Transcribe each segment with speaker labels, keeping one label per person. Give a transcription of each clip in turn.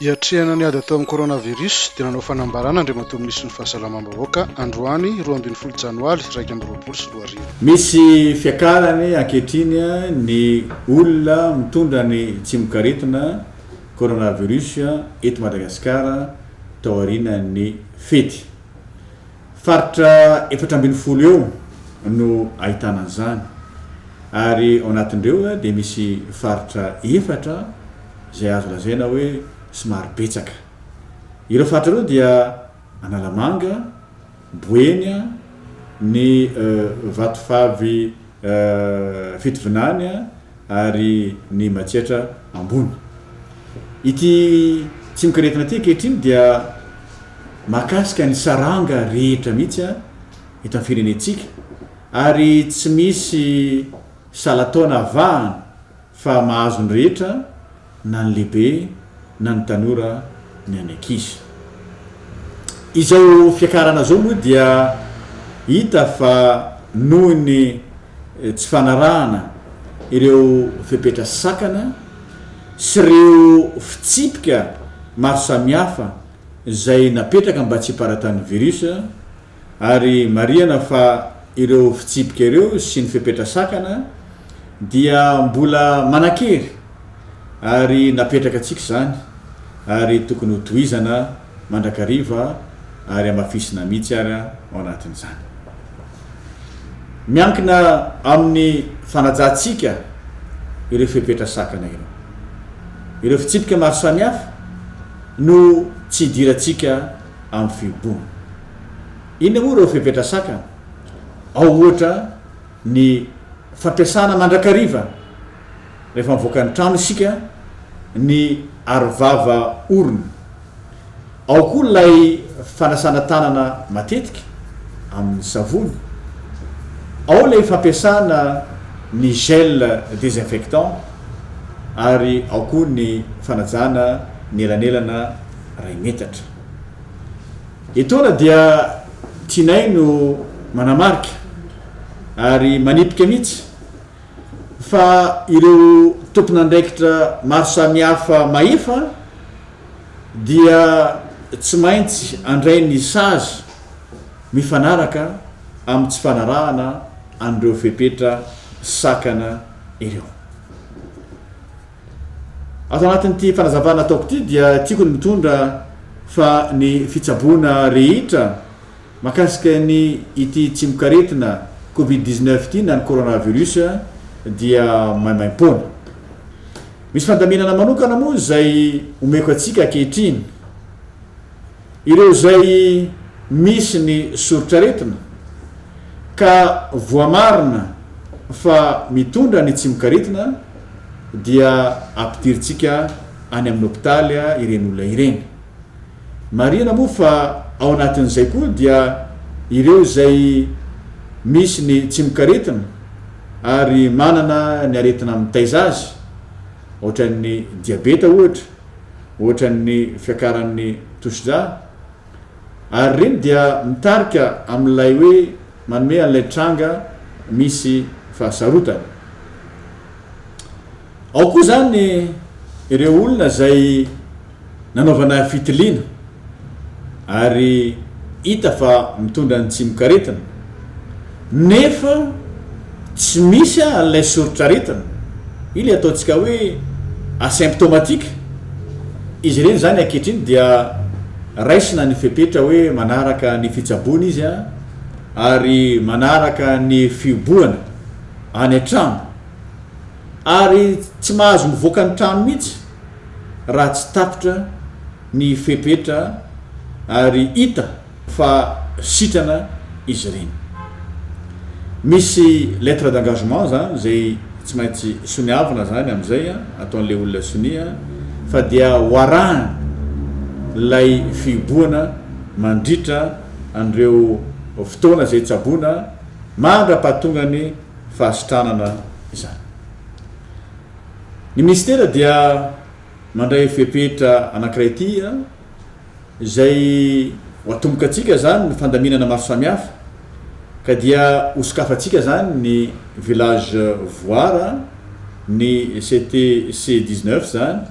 Speaker 1: Hiatrehana ny ady atao amin'ny coronavirus dia nanao fanambarana Andriamatoa Minisitry ny Fahasalamam-bahoaka androany roa ambin'ny folo Janoaly iraika amby roapolo sy roa arivo. Misy
Speaker 2: fiakarany ankehitriny ny olona mitondra ny tsimokaretina coronavirus eto Madagasikara taorianan'ny fety. Faritra efatra ambin'ny folo eo no ahitana an'izany ary ao anatin'ireo dia misy faritra efatra izay azo lazaina hoe somary betsaka. Ireo faritra ireo dia Analamanga, Boeny, ny Vatovavy Fitovinany, ary ny matsietra ambony. Ity tsy mikiretina ity ankehitriny dia mahakasika ny saranga rehetra mihitsy eto amin'ny firenentsika ary tsy misy salan-taona avahana fa mahazo ny rehetra, na ny lehibe na ny tanora ny an'ny ankizy. Izao fiakarana izao moa dia hita fa noho ny tsy fanarahana ireo fepetra sakana sy ireo fitsipika maro samihafa izay napetraka mba tsy hiparatahan'ny virus ary marihana fa ireo fitsipika ireo sy ny fepetra sakana dia mbola manan-kery ary napetraka antsika izany ary tokony ho tohizana mandrakariva ary hamafisina mihitsy ary ao anatin'izany. Miankina amin'ny fanajantsika ireo fepetra sakana ireo. Ireo fitsipika maro samihafa no tsy idirantsika amin'ny fihoboana. Inona moa ireo fepetra sakana? Ao ohatra ny fampiasana mandrakariva. rehefa mivoaka ny trano isika, ny arovava orona. Ao koa ilay fanasana tanana matetika amin'ny savony. Ao ilay fampiasana ny gel désinfectant ary ao koa ny fanajana ny elanelana iray metatra. Etoana dia tianay no manamarika ary manipika mihitsy fa ireo tompon'andraikitra maro samihafa mahefa dia tsy maintsy handray ny sazy mifanaraka amin'ny tsy fanarahana an'ireo fepetra sakana ireo. Ato anatin'ity fanazavana ataoko ity dia tiako ny mitondra fa ny fitsaboana rehetra Mahakasika ny ity tsimokaretina covid dix neuf ity na ny coronavirus dia maimaim-poana. Misy fandaminana manokana moa izay omeko antsika ankehitriny. Ireo izay misy ny soritr'aretina ka voamarina fa mitondra ny tsimokaretina dia ampidirintsika any amin'ny hopitaly ireny olona ireny. Marihina moa fa ao anatin'izay koa dia ireo izay misy ny tsimokaretina ary manana ny aretina mitaiza azy, ohatran'ny diabeta ohatra, ohatran'ny fiakaran'ny tosidra, ary ireny dia mitarika amin'ilay hoe manome an'ilay tranga misy fahasarotana. Ao koa izany ireo olona izay nanaovana fitiliana ary hita fa mitondra ny tsimokaretina nefa tsy misy an'ilay soritr'aretina, io ilay ataontsika hoe asymptomatique, izy ireny izany ankehitriny dia raisina ny fepetra hoe manaraka ny fitsaboana izy ary manaraka ny fiobohana any an-trano. ary tsy mahazo mivoaka ny trano mihitsy raha tsy tapitra ny fepetra ary hita fa sitrana izy ireny. Misy lettre d'engagement izany izay tsy maintsy soniavina izany amin'izay ataon'ilay olona sonia fa dia ho arahany ilay fihibohana mandritra an'ireo fotoana izay tsaboina mandra-pahatongany fahasitranana izany. Ny Minisitera dia mandray fepetra anankiray ity izay ho atombokantsika izany ny fandaminana maro samihafa ka dia hosokafantsika izany ny Village Voara, ny CTC dix-neuf izany,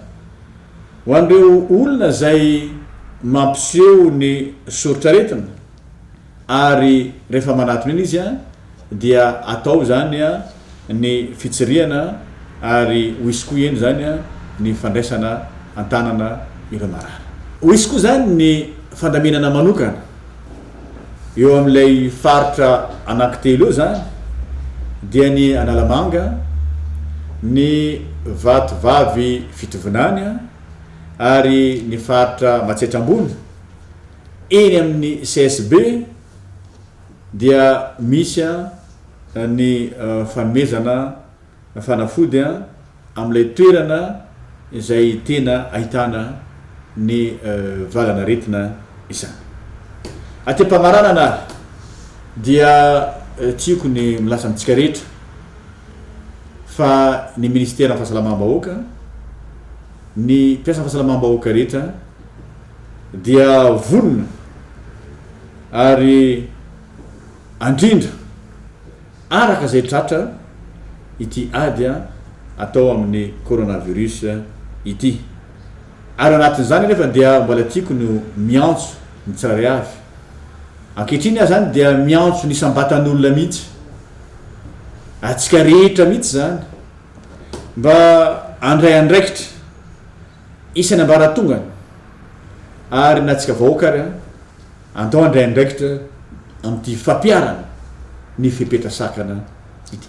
Speaker 2: ho an'ireo olona izay mampiseho ny soritr'aretina. Ary rehefa manatona iny izy dia atao izany ny fitsirihana ary ho hisy koa eny izany ny fandraisana an-tanana ireo marary. Ho hisy koa izany ny fandaminana manokana eo amin'ilay faritra anankitelo eo izany dia ny Analamanga, ny Vatovavy Fitovinany ary ny faritra Matsiatra Ambony. Eny amin'ny CSB dia misy ny fanomezana fanafody amin'ilay toerana izay tena ahitana ny valan'aretina izany. Aty am-pamaranana ary dia tiako ny milaza amintsika rehetra fa ny Minisiteran'ny Fahasalamam-bahoaka, ny mpiasan'ny fahasalamam-bahoaka rehetra, dia vonona ary andrindra araka izay tratra ity ady atao amin'ny coronavirus ity. Ary anatin'izany anefa dia mbola tiako ny ho miantso ny tsirairay avy. Ankehitriny aho izany dia miantso ny isam-batan'olona mihitsy, antsika rehetra mihitsy izany, mba handray andraikitra. Isan'ny ambaratonga ary na antsika vahoaka ary andao handray andraikitra amin'ity fampiharana ny fepetra sakana ity.